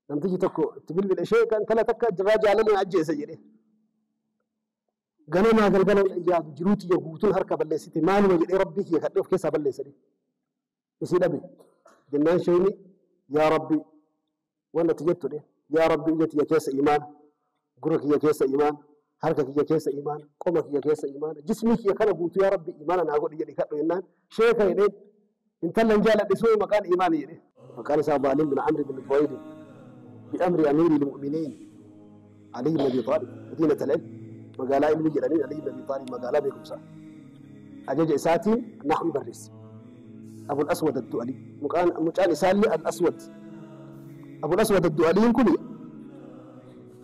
Namtichi tokko itti bilbile sheeka intala takka jirraa jaalallee ajjeese jedhe. Ganamaa galgala yaadu jiruu tiyya guutuun harka balleessite maaluma jedhee rabbii kiyya kadhee of keessaa balleessa jedhe. Isii dhabe. Jennaan sheeyni yaa rabbii waan ati jettu jedhe yaa rabbii ija tiyya keessa imaana. Gurra kiyya keessa imaana, harka kiyya keessa imaana, qoma kiyya keessa imaana, jismii kiyya kana guutuu yaa Rabbi imaana naa godhi jedhi kadhu jennaan sheeka jedheen intallan jaaladhe suma maqaan imaani jedhe. Maqaan isaa Baalim bin Amri bin Tuwayli bi amri amiiri lmu'miniin Aliyyi bin Abi Xaalib madiinat al-ilm magaalaa ilmii jedhaniin Aliyyi bin Abi Xaalib magaalaa beekumsaa ajaja isaatiin naxwi barreesse. Abul Aswad Addu'alii mucaan isaallee Al Aswad Abul Aswad Addu'aliin kuni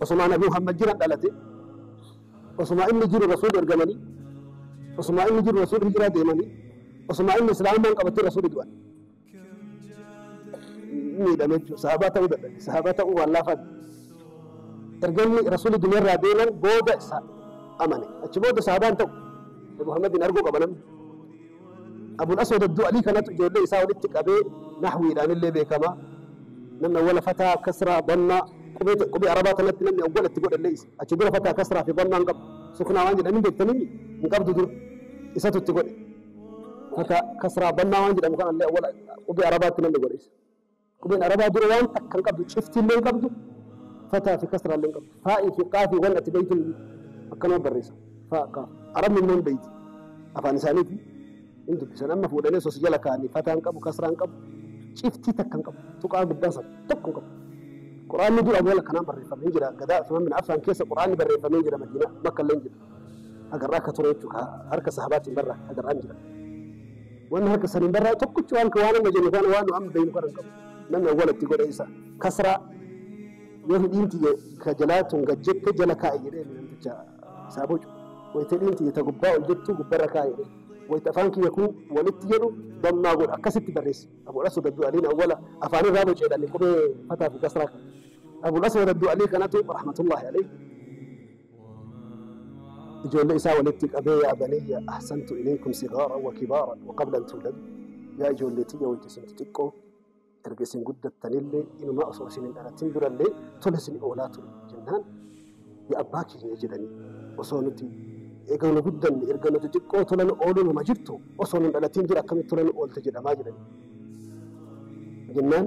Osumaa nabi Muhammad jiran dhalate osumaa inni jiru rasuul ergamanii osumaa inni jiru rasuul hijiraa deemanii osumaa inni islaamummaan qabatee rasuuli du'an miidhame jechuudha sahabaa ta'uu dadhabe sahabaa ta'uu waan laafaa miti erga inni rasuuli dunyarraa deeman booda isa amane achi booda sahabaan ta'u Muhammadin arguu qaba namni Abul Aswad Addu'alii kanatu ijoollee isaa walitti qabee nahwiidhaan illee beekama. Namni awwala fataa, kasraa, dammaa qubee ta- qubee arabaa tanatti namni awwala itti godhe illee isa. Achi dura fataa, kasraa fi dammaa hin qabu. Suknaa waan jedhan hin beektanimi hin qabdu dura. Isatu itti godhe. Fataa, kasraa, dammaa waan jedhamu kanallee awwala qubee arabaatti namni godhe isa. Qubeen Arabaa dura waan takka hin qabdu, ciftiillee hin qabdu, fataa fi kasraallee hin qabdu. Faa'i fi qaafii waan ati beeytu akkanuma barreessa. Faa, qaaf. Arabni immoo hin beeyti. Afaan isaaniiti. Hin dubbisan. Amma fuudhanii osoo si jala kaa'anii fataa hin qabu, kasraa hin qabu, ciftii takka hin qabu. Tuqaa gubbaa san tokko hin qabu. Qur'aanni dura amala kanaan barreeffame hin jira. Gadaa Usmaan bin Affaan keessa Qur'aanni barreeffamee hin jira Madiinaa, Makkallee hin jiru. agarraa akka ture jechuudha. Harka sahabaatiin barraa agarraa hin jiran. Wanni harka saniin barraa tokkichi waan waan amma jennu kana waan amma beeknu kana hin qabu. Namni awwalatti godhe isa kasraa yoo hidhiin tiyya ka jalaa tun gad jette jala kaa'e jedhee namticha isaa bocu. Wayita hidhiin tiyya ta gubbaa ol jettu gubbarra kaa'e jedhee. Wayita afaan kiyya kun walitti jedhu dammaa godha akkasitti barreessi. Abul Aswad Abduu Aliin awwala afaan irraa bocu jedhani qubee fataa fi kasraa kana. Abul Aswad Abduu Alii kanatu rahmatullahi alayhi ijoollee isaa walitti qabee yaa baniyya ahsantu ilaykum sigaaran wa kibaaran wa qabla an tuuladu yaa ijoollee tiyya wayta isin xixiqqoo erga isin guddattanillee inumaa osoo isin hin dhalatin durallee tola isin oolaa ture jennaan yaa abbaa kiyya jedhanii osoo nuti egaa nu guddanne erga nu xixiqqoo tola nu ooluu numa jirtu osoo nu hin dhalatin dura akkamitti tola nu oolte jedhamaa jedhanii jennaan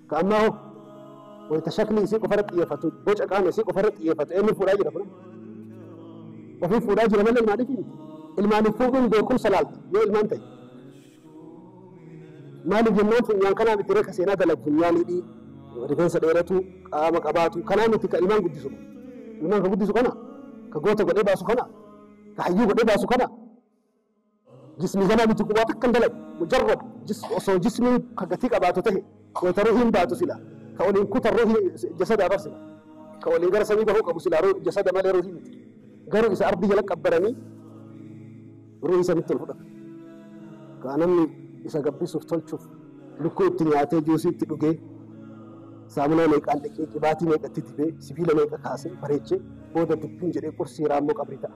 Ka ammaa hoo? Wayita shaklii isii qofa irratti xiyyeeffatu, boca qaama isii qofa irratti xiyyeeffatu eenyu fuudhaa jira kun? Ofii fuudhaa jira malee ilmaaniif miti. Ilmaaniif fuudhuun beekumsa laalta yoo ilmaan ta'e. Maaliif jennaan funyaan kanaa miti reka seenaa dalagu funyaan hidhii rifeensa dheeratu qaama qabaatu kanaa miti ka ilmaan guddisu. Ilmaan ka guddisu kana ka goota godhee baasu kana ka hayyuu godhee baasu kana Jismii kanaa miti qubaa takka hin dalagu. Mujarrad jism osoo jismiin ka gatii qabaatu tahe wayta ruhiin baatu sila ka waliin kutan ruhii jasadaa bar sila ka waliin gara samii bahuu qabu silaa jasada malee ruhii miti. Garuu isa ardii jala qabbaranii ruhii sanitti ol fudhatan. Kaa namni isa gabbisuuf tolchuuf lukkuu itti nyaatee juusii itti dhugee saamunaa meeqaan dhiqee qibaatii meeqa itti dibee sibiila meeqa kaasee bareechee booda dubbiin jedhee qursii raammoo qabrii ta'a.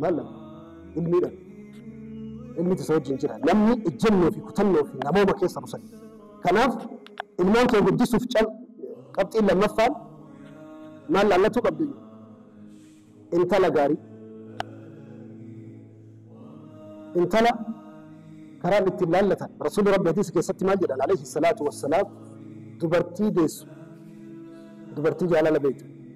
Maal dha? Ilmii dha. Ilmiti isa wajjin jira. Namni ejjennoo fi kutannoo fi namooma keessa busan. Kanaaf ilmaan kee guddisuuf cal qabxiin lammaffaan maal laallatuu qabdu? Intala gaarii. Intala karaan ittiin laallatan. Rasuulli Rabbi hadiisa keessatti maal jedhan? Alayhi salaatu wassalaam dubartii deessu. Dubartii jaalala beektu.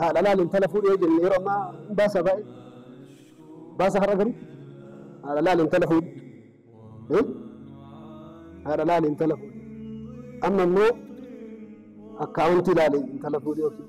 Haadha laal intala fuudhi yoo jenne yeroo ammaa hin baasa baay'ee. Baasa har'a garii. Haadha laal intala fuudhi. Eh? Haadha laal intala fuudhi. Amma immoo akkaawuntii laal intala fuudhi yookiin.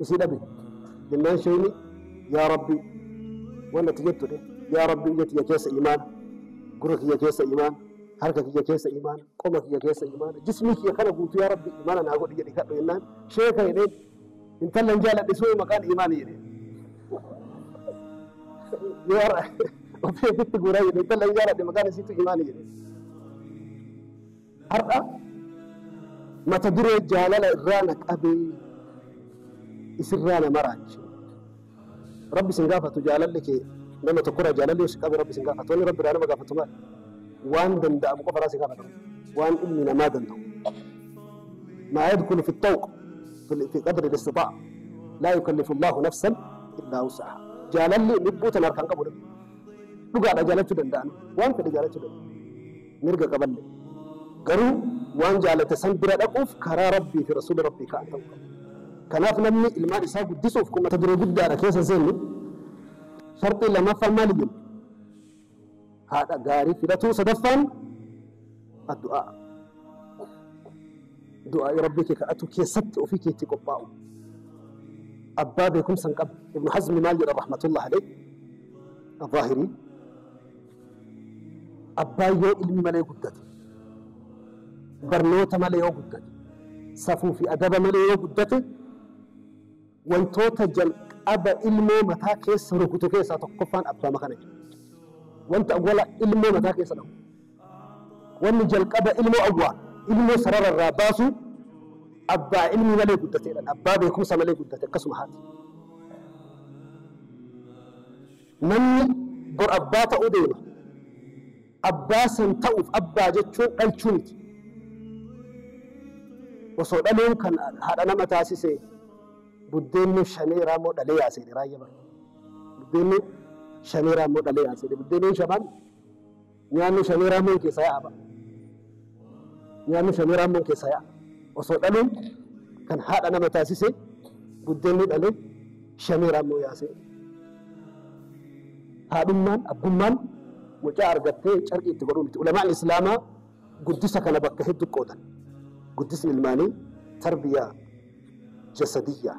Usii dhabi jennaan sheeyni yaa rabbii waan ati jettu dhe yaa rabbii ija tiyya keessa imaana gurra kiyya keessa imaana harka kiyya keessa imaana qoma kiyya keessa imaana jismii kiyya kana guutuu yaa rabbii imaana naa godhi jedhi kadhu jennaan sheeka jedheen intalla hin jaaladhe soo maqaan imaana jedheen yoo har'a ofii ofitti guuraa jedhe intalla hin jaaladhe maqaan isiitu imaana jedheen Har'a mata duree jaalala irraa na qabee isinraa na maraache. Rabbi sin gaafatu jaalalli kee nama tokkorraa jaalalli yoo si qabe rabbi sin gaafatu. Wanni rabbi irraa nama gaafatu maali? Waan danda'amu qofa irraa si gaafata rabbi. Waan ilmi namaa danda'u. Maa yadkulu fi tawq fi qadri listixaa. Laa yukallifu Allahu nafsan illaa wusaha. Jaalalli lubbuu tana harkaan qabu rabbi. Dhugaadha jaalachuu danda'an. Waan fedhe jaalachuu danda'an. mirga qaballee. Garuu waan jaalate san bira dhaquuf karaa Rabbii fi Rasuula Rabbii ka'an ta'uu qaba. Kanaaf namni ilmaan isaa guddisuuf kun mata duree guddaadha keessa seennu. Sharxii lamaffaan maali jenna? Haadha gaarii filatuu sadaffaan addu'aa. Du'aa'ii Rabbii kee kadhatu keessatti ofii keetti qophaa'u. Abbaa beekumsa hin qabne. Ibnu Hazmi maal jedha rahmatullahi alayhi? Al-Zaahirii. Abbaan yoo ilmi malee guddate, barnoota malee yoo guddate, safuu fi adaba malee yoo guddate, wantoota jalqaba ilmoo mataa keessa rukutu keessaa tokkoffaan abbaa makana jechuudha. Wanta awwala ilmoo mataa keessa dhahu. Wanni jalqaba ilmoo awwaa, ilmoo sarara irraa baasu abbaa ilmi malee guddateedhaan, abbaa beekumsa malee guddate akkasuma haati. Namni bor abbaa ta'uu deema. Abbaa san ta'uuf abbaa jechuun dhalchuu miti. Osoo dhaluun kan haadha nama taasise buddeennu shanee raammoo dhalee yaaseedhe raayya bara. Buddeennu shanee raammoo dhalee yaaseedhe buddeennuun shamaan. Nyaanni shanee raammoon keessaa yaa'a ba'a. Nyaanni shanee raammoon keessaa yaa'a. Osoo dhaluun kan haadha nama taasise buddeenni dhale shanee raammoo yaasee. Haadhummaan, abbummaan mucaa argattee carqii itti godhuu miti. Ulamaan Islaamaa guddisa kana bakka hedduu qoodan. Guddisni ilmaanii tarbiyyaa jasadiyyaa.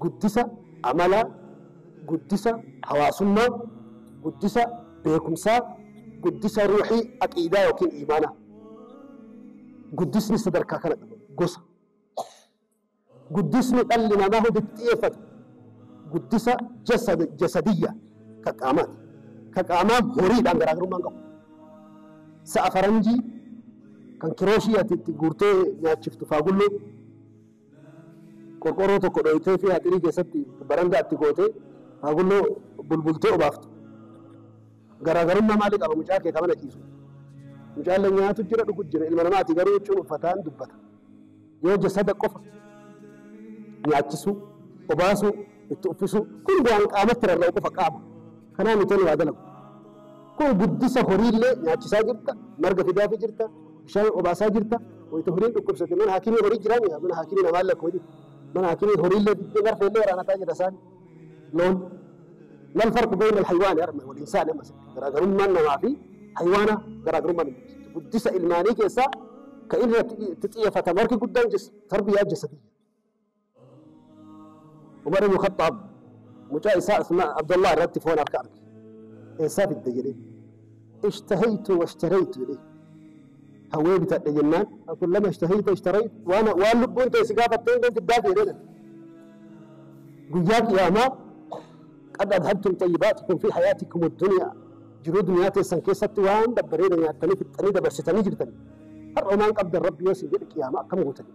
guddisa amalaa, guddisa hawaasummaa, guddisa beekumsaa, guddisa ruuhii, aqiidaa ykn iimaanaa. Guddisni sadarkaa kana qaba. Gosa. Guddisni dhalli namaa hundi itti xiyyeeffatu guddisa jasad, jasadiyya, ka qaamaati. Ka qaamaa horiidhaan garaagarummaa hin qabu. Sa'a faranjii kan kirooshii ati itti guurtee nyaachiftu faagulloo, Qorqoorroo tokko dhooyteefii haxirii keessatti barandaa itti gootee hagulloo bulbultee obaaftu. Garaagarummaa maalii qaba mucaa kee ka mana ciisu? Mucaallee nyaatu jira dhugu jira ilma namaati garuu huccuun uffataan dubbata. Yoo jasada qofa nyaachisuu, obaasuu, itti uffisuu kun waan qaamatti rarra'u qofa qaama. Kanaa miti ani waa dalagu. Kun guddisa horiillee nyaachisaa jirta, marga fidaafii jirta, bishaan obaasaa jirta, wayita horiin dhukkubsate mana haakimii horii jiraa miti mana haakimii namaan lakkuma jirti. Mana haakimii horiillee diddee marfeellee waraanataa jira isaan loon. Mal farqu bayna al-haywaani harma wal insaani amma sitti garaagarummaan namaa fi haywaana garaagarummaan hin jirtu. Guddisa ilmaanii keessaa ka inni irratti itti xiyyeeffatamu harki guddaan jessa tarbiyyaa jessa biyya. Umar ibn Khaxxaab mucaa isaa Usmaan Abdullah irratti foon harka arge. Eessaa fidde jedhee. Ishtahaytu washtaraytu jedhee. Hawwee bitadhe jennaan kullama ishtahayta ishtarayt waan waan lubbuun ta'e si gaafattee hundeen fiddaa fi jedhee. Guyyaa qiyaamaa qad adhabtum xayyibaatikum fi hayaatikum addunyaa jiruu duniyaa teessan keessatti waan babbareeda nyaattanii fixxanii dabarsitanii jirtan har'a waan qabdan rabbi yoo sin jedhe qiyaamaa akkam gootanii.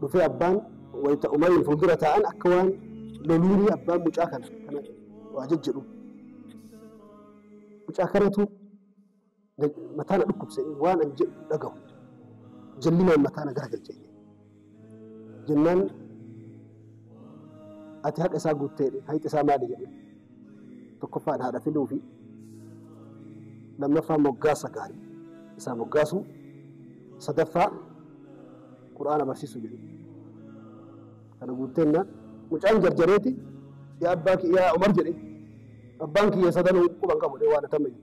Dhufee abbaan wayita Umariin fuuldura taa'an akka waan loluunii abbaan mucaa kana kana waa jejjedhu. Mucaa kanatu na- mataa na dhukkubse waan an jedhu dhagahu. Jallinaan mataa na garagalche. Jennaan ati haqa isaa guuttee hayxi isaa maali jedhe. tokkoffaan haadha filuu fi lammaffaa moggaasa gaarii isaa moggaasuu sadaffaa qur'aana barsiisuu jedhu kana guutteenna mucaan jarjareeti yaa abbaa kiyyaa umar jedhe abbaan kiyya sadanuu quban qabu waan atama jedhu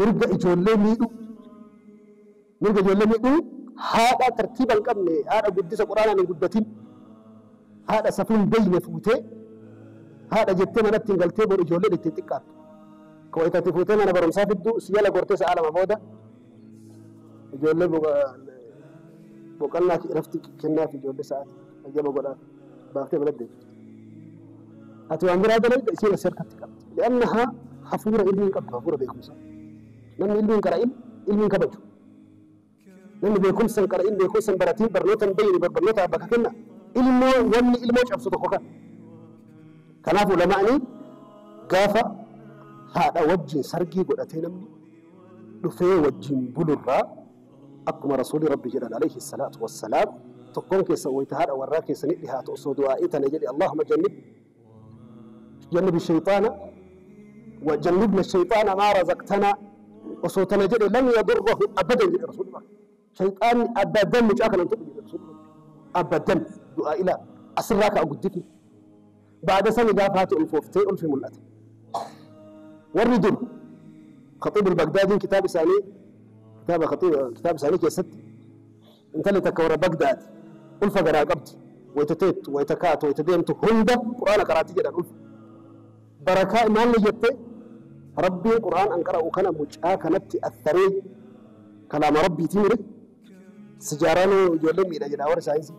mirga ijoollee miidhuu mirga ijoollee miidhuu haadha tartiiba hin qabne haadha guddisa quraanaan hin guddatin haadha safuu hin beeyne fuutee haadha jettee manatti hin galtee bor ijoolleen ittiin xiqqaattu ka wayitatti fuutee mana barumsaa fidduu si jala gortee sa'a lama booda ijoollee boqannaa irratti kennaaf ijoollee sa'aati ayyama godhaaf baaftee mana deemti. ati waan biraa dalayda isiin as harkatti qabdi li'annaha hafuura ilmii hin qabdu hafuura beekumsa namni ilmii hin qara'in ilmii hin kabaju namni beekumsa hin qara'in beekumsa hin baratiin barnoota hin beeyne barnoota abba ka kenna ilmoo wanni ilmoo cabsu tokko kan kanaaf ulamaa'ni gaafa haadha wajjin sargii godhatee namni dhufee wajjin bulurraa Akkuma Rasuulli Rabbii jedhan aleyhi salaatu wassalaam, Tokkoon keessan wayta haadha warraa keessanii dhihaatu osoo du'aa'ii tana jedhe, Allaahumma jannib jannibi sheyxaana wa jannibna sheyxaana maa razaqtanaa osoo tana jedhe lam yadurrahu abadan jedhe Rasuulli Rabbi. Sheyxaanni abadan mucaa kana hin tuqu jedhe Rasuulli Rabbi. Abadan du'aa'ii laal asirraa ka'a guddifni. Ba'da sani gaafa haati ulfooftee ulfi mul'ate. Warri dur Khaxiib al-Bagdaadiin kitaaba isaanii kitaaba Khaxiib kitaaba isaanii keessatti intalli takka warra Bagdaad ulfa garaa qabdi. Wayita teettu, wayita kaatu, wayita deemtu hunda Qur'aana qaraatti jedhan ulfa. Barakaa maalli jette Rabbiin Qur'aan an qara'u kana mucaa kanatti atharee kalaama Rabbiitii mire. Sijaaraan hoo ijoollee miidha jedha warri saayinsii.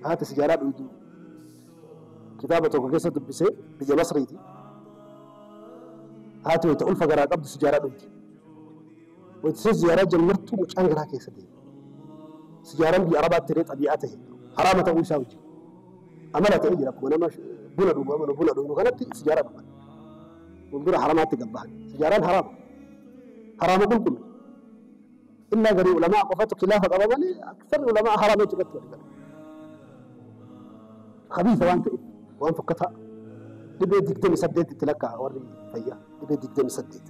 Haati sijaaraa dhuydu kitaaba tokko keessa dubbisee biyya Masriiti. Haati wayita ulfa garaa qabdu sijaaraa dhuydi. Wayita isheen sijaaraa jammartu mucaan garaa keessa deema. Sijaaraan biyya Arabaatti illee xabii'aa ta'e haraama ta'uu isaa wajjin amala ta'ee jira akkuma nama buna dhugu amanu buna dhuynu kanatti sijaaraa dhugan. Fuuldura haramaatti gabbahan. Sijaaraan haraama. Haraama qulqullu. Illaa garii ulama'a qofatu kilaafa qaba malee aksarri ulama'a haraama jechuu irratti walii gala. Habiisa waan ta'eef waan fokkataa dhibee digdami saddeet itti lakkaa'a warri fayyaa dhibee digdami saddeet.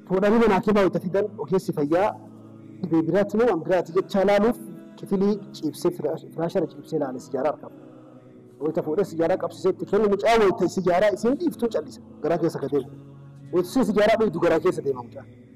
Fuudhanii mana hakiimaa wayita fidan ogeessi fayyaa dhibee biraatti moo waan biraati jechaa laaluuf kifilii ciibsee firaashara ciibsee laale sijaaraa argama. Wayita fuudhee sijaaraa qabsiisee itti kennu mucaa wayita sijaaraa isiin dhiiftuu callisa garaa keessa ka deemu. Wayita isheen sijaaraa dhuydu garaa keessa deema mucaan.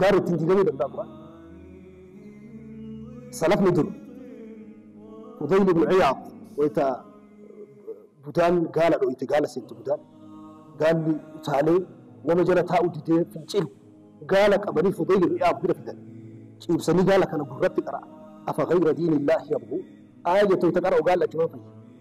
Gaara ittiin diigamuu danda'a Qur'aan. Salafni dur Fudayl ibn Iyaad wayita budaan gaala dho'ite gaala seente budaan gaalli utaalee nama jala taa'u didee fincilu gaala qabanii Fudayl ibn Iyaad bira fidan ciibsanii gaala kana gurratti qara'a afa ghayra diinillaahi yabghuun aayya toyta qara'u gaala achumaan fayya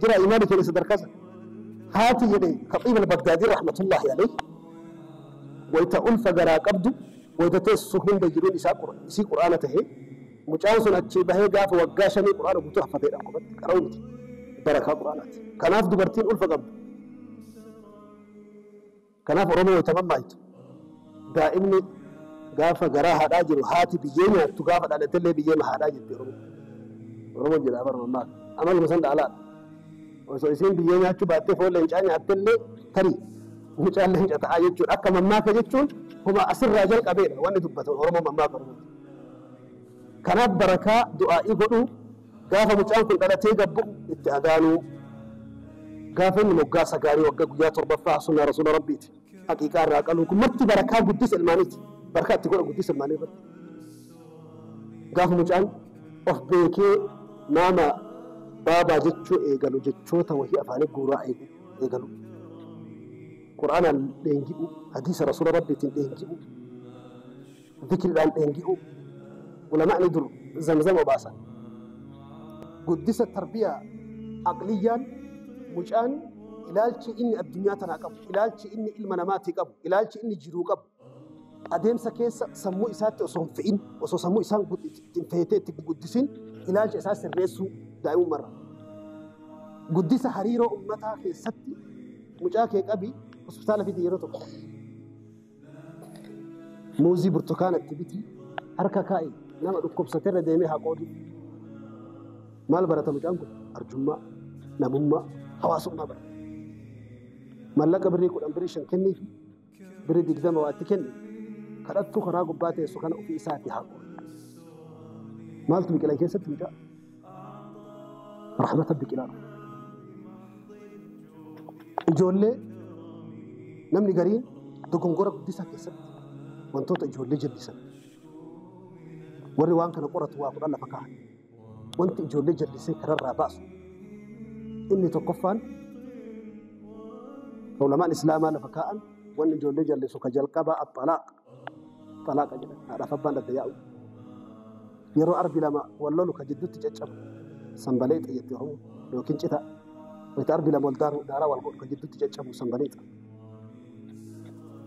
jira imaani jedhe sadarkaa san haati jedhe khaxiib albagdaadii rahmatullaahi alayhi wayta ulfa garaa qabdu wayta teessu hunda jiruun isaa isii qur'aana tahe mucaan sun achii bahee gaafa waggaa shanii qur'aana guutuu haffatee dha qubatti qara'uu miti barakaa qur'aanaati kanaaf dubartiin ulfa qabdu Kanaaf Oromoo wayita mammaahitu daa'imni gaafa garaa haadhaa jiru haati biyyee nyaattu gaafa dhalattellee biyyeema haadhaa jetti Oromoon. Oromoon jedhaa bara mammaaka. Amaluma san dhaalaadha. Osoo isiin biyyee nyaachuu baattee foon leencaa nyaattellee tarii mucaan leenca ta'aa jechuudha. Akka mammaaka jechuun huma asirraa jalqabeedha wanni dubbatamu Oromoon mammaaka Oromooti. Kanaaf barakaa du'aa'ii godhuu Gaafa mucaan kun dhalatee gad bu'u itti adaanuu. Gaafa inni moggaasa gaarii wagga guyyaa torbaffaa sunnaa rasuula rabbiiti. Haqiiqaa irraa qaluu kun marti barakaa guddisa ilmaaniiti. Barakaa itti godha guddisa ilmaanii irratti. Gaafa mucaan of beekee maamaa baabaa jechuu eegalu jechoota wahii afaanii guuraa eegalu. Qur'aanaan dheengi'u, hadiisa rasuula rabbiitiin dheengi'u. dikriidhaan dheengi'uu, ulama'ni dur zamzam obaasan, guddisa tarbiyaa aqliyyaan mucaan ilaalchi inni addunyaa tanaa qabu, ilaalchi inni ilma namaatii qabu, ilaalchi inni jiruu qabu adeemsa keessa sammuu isaatti osoo hin fe'in, osoo sammuu isaan gud- itti- ittiin feetee itti hin guddisin ilaalcha isaa sirreessuu daa'imummarra. Guddisa hariiroo ummataa keessatti mucaa kee qabi hospitaala fidi yeroo tokko. Muuzii burtukaana itti biti harka kaa'i nama dhukkubsaterra deemee haa qoodu. Maal barata mucaan kun? Arjummaa, namummaa, hawaasummaa barata. Mallaqa birrii kudhan birrii shan kenniifi birrii digdama waa itti kenni kadhattuu karaa gubbaa teessu kana ofii isaati haa qoodu. Maaltu biqila keessatti mucaa? Rahmata biqilaa dhufe. Ijoollee namni gariin dogongora guddisaa keessatti wantoota ijoollee jallisan. Warri waan kana qoratu waa kudhan lafa kaahan. Wanti ijoollee jallisee kararraa baasu. Inni tokkoffaan ulamaan islaamaa lafa kaa'an wanni ijoollee jallisu ka jalqabaa axalaaq. xalaaqa jedhan haadhaaf abbaan adda yaa'u yeroo arbi lama wal lolu ka jidduutti caccabu sanbaleexa jetti oromoo yookiin cita wayita arbi lama wal daaru daaraa wal godhu ka jidduutti caccabu sanbaleexa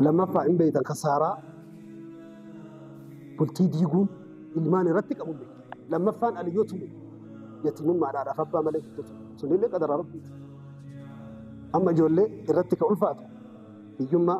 lammaffaa hin beeytan ka saaraa bultii diiguun ilmaan irratti qabu beeku lammaffaan aliyyoo tumu yatimummaa haadhaaf abbaa malee guddatu sunillee qadara rabbiiti amma ijoollee irratti ka ulfaatu hiyyummaa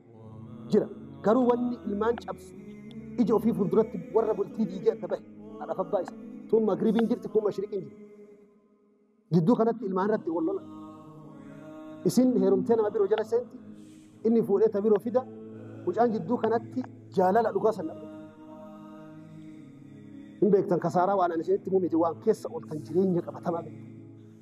jira. Garuu wanni ilmaan cabsu ija ofii fuulduratti warra bultii diigee adda bahe haadhaaf abbaa isa. Tun magribiin jirti kun mashriqiin jirti. Jidduu kanatti ilmaan irratti wal lola. Isin heerumtee nama biroo jala seenti inni fuudhee ta biroo fida mucaan jidduu kanatti jaalala dhugaa san dhabde. Hin beektan kasaaraa waan ani isinitti himuu miti waan keessa ooltan jireenya qabatamaa beektan.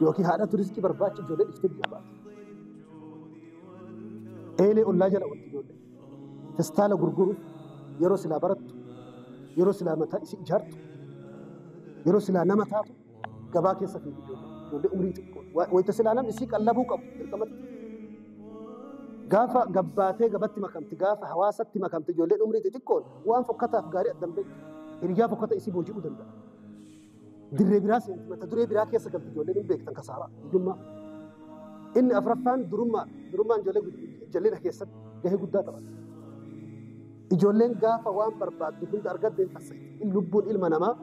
Yookiin haadhatu riskii barbaacha ijoollee dhiftee biyyaa baate. Eelee ollaa jala wanti ijoollee. Festaala gurguru yeroo silaa barattu, yeroo silaa mataa isii ijaartu, yeroo silaa nama taatu gabaa keessa fiigu ijoollee. Ijoollee umrii xiqqoo. Wa- Wayita silaa namni isii qallabuu qabu dirqamatti. Gaafa gabbaatee gabatti makamti, gaafa hawaasatti makamti ijoolleen umrii xixiqqoon waan fokkataaf gaarii addan beektu. Hiriyyaa fokkata isii booji'uu danda'a. dirree biraa seenti mata duree biraa keessa galti ijoolleen hin beektan kasaaraa hiyyummaa. Inni afraffaan durummaa durummaan ijoollee gud- jal'ina keessatti gahee guddaa taphata. Ijoolleen gaafa waan barbaaddu hunda argatte hin fassayiti. In lubbuun ilma namaa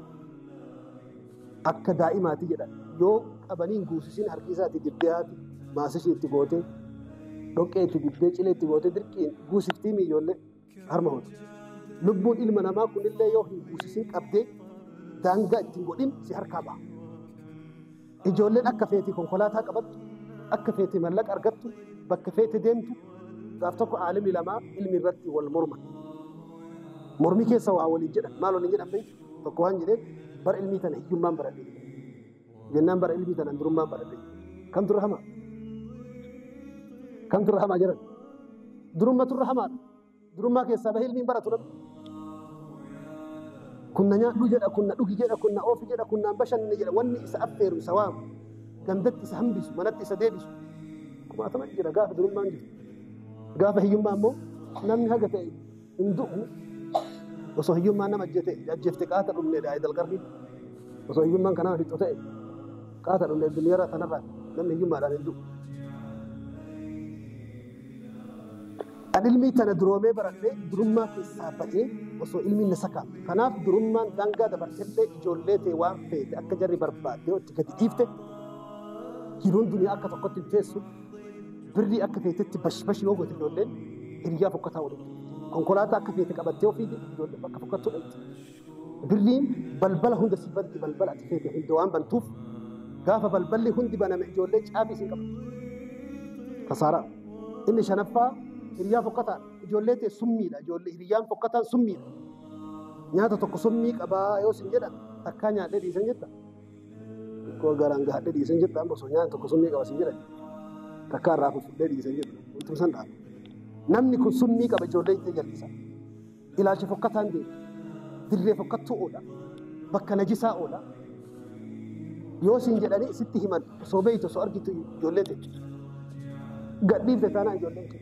akka daa'imaati jedhan yoo qabanii hin guusisin harki isaati dibbee haati maasishii itti gootee dhoqqee itti dibbee cilee itti gootee dirqiin guusiftii mi ijoollee. harma hoti. Lubbuun ilma namaa kun illee yoo hin fuusisin qabdee daangaa itti hin godhin si harkaa baha. Ijoolleen akka feete konkolaataa qabattu, akka feete mallaqa argattu, bakka feete deemtu gaaf tokko aalimni lamaa ilmi irratti wal morman. Mormii keessa waa waliin jedhan. Maal waliin jedhan beektu? Tokko waan jedheen bara ilmii tana hiyyummaan baradhe jedhe. Jennaan bara ilbii tanan durummaan barate. Kan turre hamaa. Kan turre hamaa jedhan. Durumma turre hamaadha. Durummaa keessaa bahee ilmiin baratu namni. Kunna nyaadhu jedha, kunna dhugi jedha, kunna oofi jedha, kunnaan bashannani jedha. Wanni isa affeeru isa waamu. Gandatti isa hambisu, manatti isa deebisu. Kumaatama jira gaafa durummaan jirtu. Gaafa hiyyummaa immoo namni haga ta'e hin du'u osoo hiyyummaan nama ajjeete ajjeefte qaata dhumne dha idal qarri osoo hiyyummaan kan nama fixu ta'e qaata dhumne duniyarra tanarra namni hiyyummaadhaan hin du'u an ilmii tana duroomee baradhee durummaa keessaa bahee osoo ilmiin na sakaa kanaaf durummaan daangaa dabartellee ijoollee tee waan feete akka jarri barbaadde yoo itti gadi dhiifte jiruun duniyaa akka tokkotti hin teessu Birrii akka feetetti bash bash yoo goote ijoolleen hiriyyaa fokkataa waliin konkolaataa akka feete qabattee ofii ijoolleen bakka fokkattuu dhaqxi. Birriin balbala hunda si banti balbala ati feete hunda waan bantuuf gaafa balballi hundi baname ijoollee caabii isin qabatti. Kasaaraa. Inni shanaffaa hiriyyaa fokkataa ijoollee ta'e summiidha ijoollee hiriyyaan fokkataan summiidha. Nyaata tokko summii qabaa yoo isin jedhan takkaa nyaadhee dhiisan jetta Xiqqoo garaan gahadhee dhiisan jedhu amma osoo nyaanni tokko summii qaba siin jedhan takkaa irraa fufudhee dhiisan jedhu wantum san dhaaba. Namni kun summii qaba ijoollee itti jallisan. Ilaalcha fokkataan deema. Dirree fokkattuu oola. Bakka najisaa oola. Yoo siin jedhanii sitti himan osoo beektu osoo argitu ijoollee ta'e. Gadhiifte taanaan ijoolleen kee.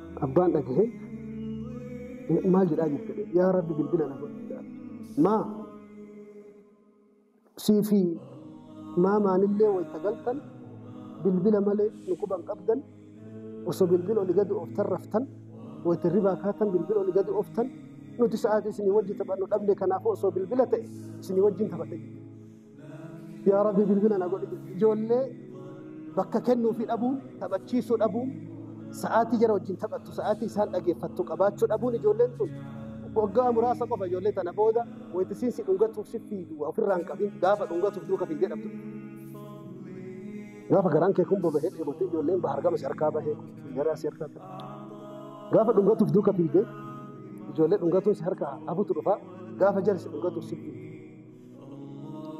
Abbaan dhagahee maal jedhaa jirta? Yaa Rabbi bilbila na godhi jedhaa. Maa sii fi maamaanillee wayita galtan bilbila malee nu quban qabdan osoo bilbila oli gadi ooftan raftan wayita hirribaa kaatan bilbila oli gadi ooftan nuti sa'aatii isinii wajji taphannu dhabne kanaafuu osoo bilbila ta'e isinii wajjin taphadha jedhe. Yaa Rabbi bilbila na godhi. Ijoollee bakka kennuu fi dhabuun, taphachiisuu dhabuun, sa'aatii jara wajjin taphattu, sa'aatii isaan dhageeffattu qabaachuu dhabuun ijoolleen tun waggaa muraasa qofa ijoollee tana booda wayita isiin si dhungatuuf si fiidu waa ofirraa hin qabin gaafa dhungatuuf duuka fiigdee dhabdu. Gaafa garaan kee kun boba'ee dheebottee ijoolleen bahar gama si harkaa bahee garaa si harkaa ta'e. Gaafa dhungatuuf duuka fiigdee ijoollee dhungatuun si harkaa hafutu dhufa gaafa jara si dhungatuuf si fiidu.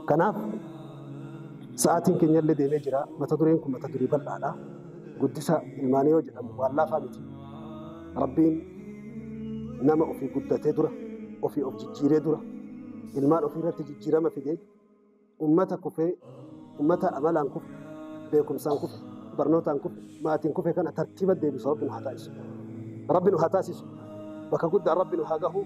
Kanaaf sa'aatiin keenya illee deemee jira. Mata dureen kun mata duree bal'aadha. Guddisa ilmaanii yoo jedhamu waan laafaa miti. Rabbiin nama ofii guddatee dura, ofii of jijjiiree dura, ilmaan ofii irratti jijjiirama fidee, ummata kufee, ummata amalaan kufe, beekumsaan kufe, barnootaan kufe, maatiin kufe kana tartiiba deebisu Rabbi nu haa taasisu. Rabbi nu haa taasisu. Bakka guddaan Rabbi nu haa gahu.